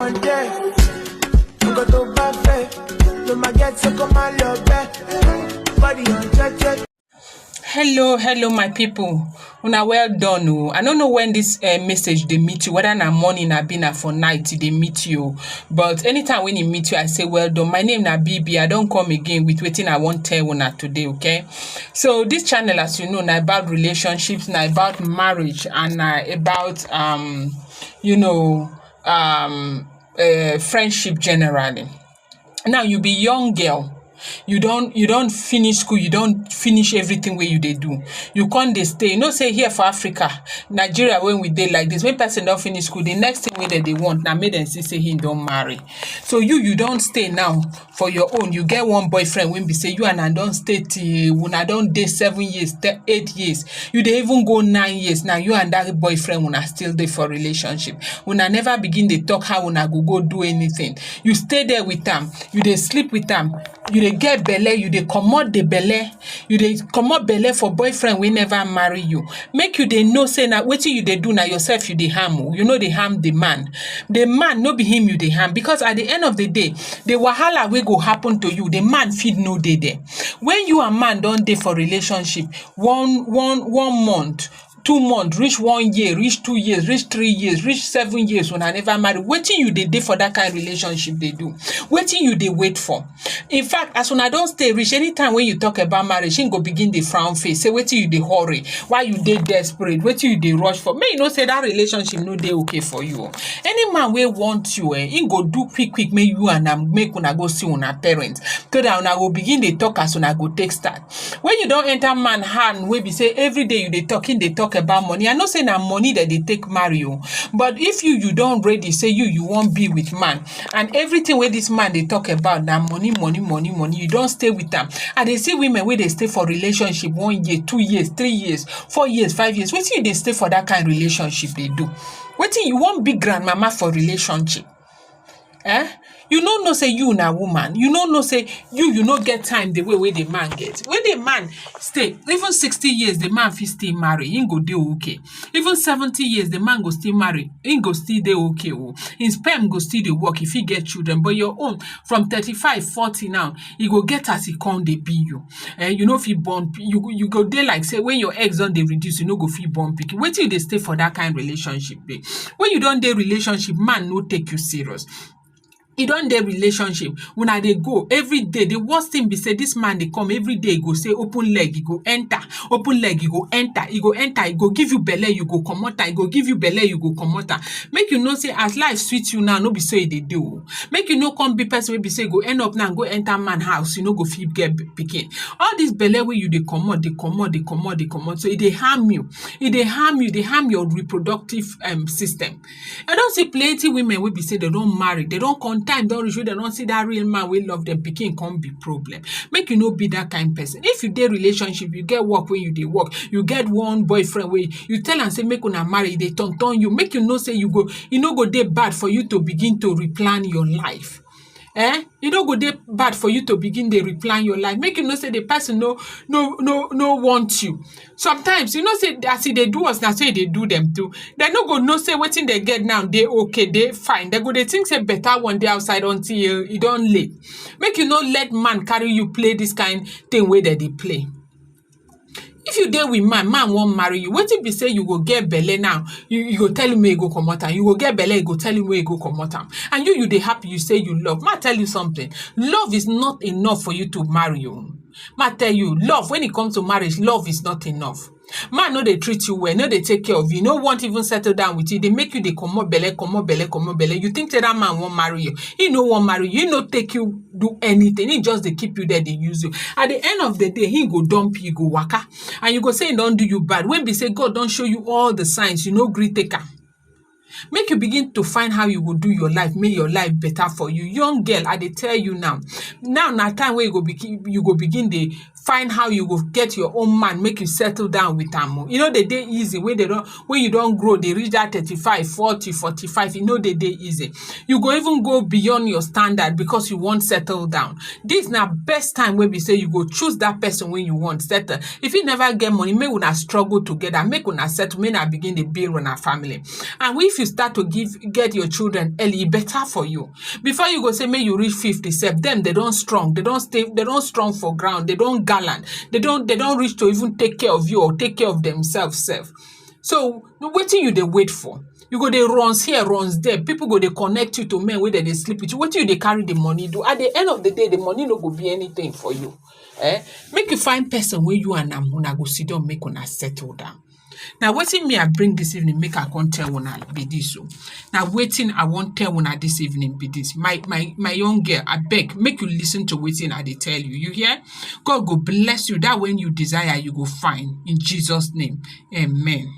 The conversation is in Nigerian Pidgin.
on day. You go to buffet. You might get so come on your bed. Body on check check. hello hello my people una well done o i no know when this uh, message dey meet you whether na morning abi na for night e dey meet you o but anytime when e meet you i say well done my name na bb i don come again with wetin i wan tell una today okay so this channel as you know na about relationships na about marriage and na about um you know um um friendship generally now you be young girl you don you don finish school you don finish everything wey you dey do you come dey stay you know say here for Africa Nigeria wey we dey like this when person don finish school the next thing wey dem dey want na make dem see say him don marry so you you don stay now for your own you get one boyfriend wey be say you and am don stay till una don dey seven years te- eight years you dey even go nine years now you and that boyfriend una still dey for relationship una never begin dey talk how una go go do anything you stay there with am you dey sleep with am you dey get belle you dey comot the belle You dey comot belle for boyfriend wey never marry you, make you dey know sey na wetin you dey do na yourself you dey harm o, you no dey harm the man. The man no be him you dey harm because at the end of the day, the wahala wey go happen to you, the man fit no dey there. When you and man don dey for relationship one one one month, two month reach one year reach two years reach three years reach seven years una never marry wetin you dey dey for that kind relationship dey do wetin you dey wait for in fact as una don stay reach anytime wey you talk about marriage him go begin dey frown face say wetin you dey hurry why you dey desperate wetin you dey rush for make you know say that relationship no dey okay for you o any man wey want you eh him go do quick quick make you and am make una go see una parents so that una go begin dey talk as una go take start When you don enter man hand wey be say everyday you dey talk, him dey talk about money. I know say na money dem dey take marry oh. But if you you don ready say you you wan be with man and everything wey this man dey talk about na money money money money you don stay with am. I dey see women wey dey stay for relationship one year, two years, three years, four years, five years. Wetin you dey stay for that kind relationship dey do? Wetin you wan be grandmama for relationship? um you no know sey you na woman, you no know sey you you no get time the way wey the man get. When the man stay even sixty years the man fit still marry, im go dey okay. Even seventy years the man go still marry, im go still dey okay o. Im sperm go still dey work, e fit get children but your own from thirty five, forty now e go get as e come dey be you um you no fit born you you go dey like sey when your eggs don dey reduce you no go fit born pikin wetin you dey stay for that kind relationship babe when you don dey relationship man no take you serious you don dey relationship una dey go everyday the worst thing be sey this man dey come everyday e go say open leg e go enter open leg e go enter e go enter e go give you belle you go comot am e go give you belle you go comot am make you know sey as life sweet you now no be so e dey dey oo make you no come be person wey be sey go end up now go enter man house, you no go fit get pikin. All dis belle wey you dey comot dey comot dey comot dey comot so e dey harm you, e dey harm you, e dey harm your reproductive um system. I don see plenty women wey be sey dem don marry, dem don come time don reach wey dem don see dat real man wey love dem, pikin come be problem. Make you no be dat kain person. If you dey relationship, you get work wey you dey work, you get one boyfriend wey you tell am sey make una marry, e dey turn turn you, make you know sey you go e no go dey bad for you to begin to replan your life eh e no go dey bad for you to begin dey replan your life make you know say the person no no no no want you sometimes you know say as e dey do us na so e dey do them too they no go know say wetin they get now dey okay dey fine they go dey think say better one dey outside until e don late make you no let man carry you play this kind thing wey they dey play If you dey with man, man wan marry you, wetin be sey you go get belle now, you you go tell him make e go comot am, you go get belle, you go tell him make e go comot am and you you dey happy, you sey you love. Make I tell you something, love is not enough for you to marry oh. Make I tell you, love when it comes to marriage, love is not enough. Man no dey treat you well, e no dey take care of you, e no want even settle down with you, e dey make you dey comot belle, comot belle, comot belle. You think sey dat man wan marry you? Im no wan marry you, im no take you do anything him just dey keep you there dey use you at the end of the day him go dump you go waka and you go say him don do you bad when be say God don show you all the signs you no gree take am make you begin to find how you go do your life make your life better for you young girl I dey tell you now now na time wey you go begin you go begin dey find how you go get your own man make you settle down with am oh. E no dey dey easy wey dey don wey you don grow dey reach that thirty five, forty, forty five, e no dey dey easy. You go even go beyond your standard because you wan settle down. This na best time wey be sey you go choose that person wey you want settle. If you never get money, make una struggle together, make una settle, make una begin dey build una family. And if you start to give get your children early, e better for you. before you go say make you reach 50 sef dem they don't strong they don't stay they don't strong for ground they don't gallant they don't they don't reach to even take care of you or take care of themselves sef so no wetin you dey wait for you go dey runs here runs there people go dey connect you to men wey dem dey sleep with you wetin you dey carry the money do at the end of the day the money no go be anything for you eh make you find person wey you and am una go sit down make una settle down na wetin me I bring this evening make I come tell una be this o na wetin I wan tell una this evening be this my my my young girl abeg make you listen to wetin I dey tell you you hear God go bless you that when you desire you go find in Jesus name amen.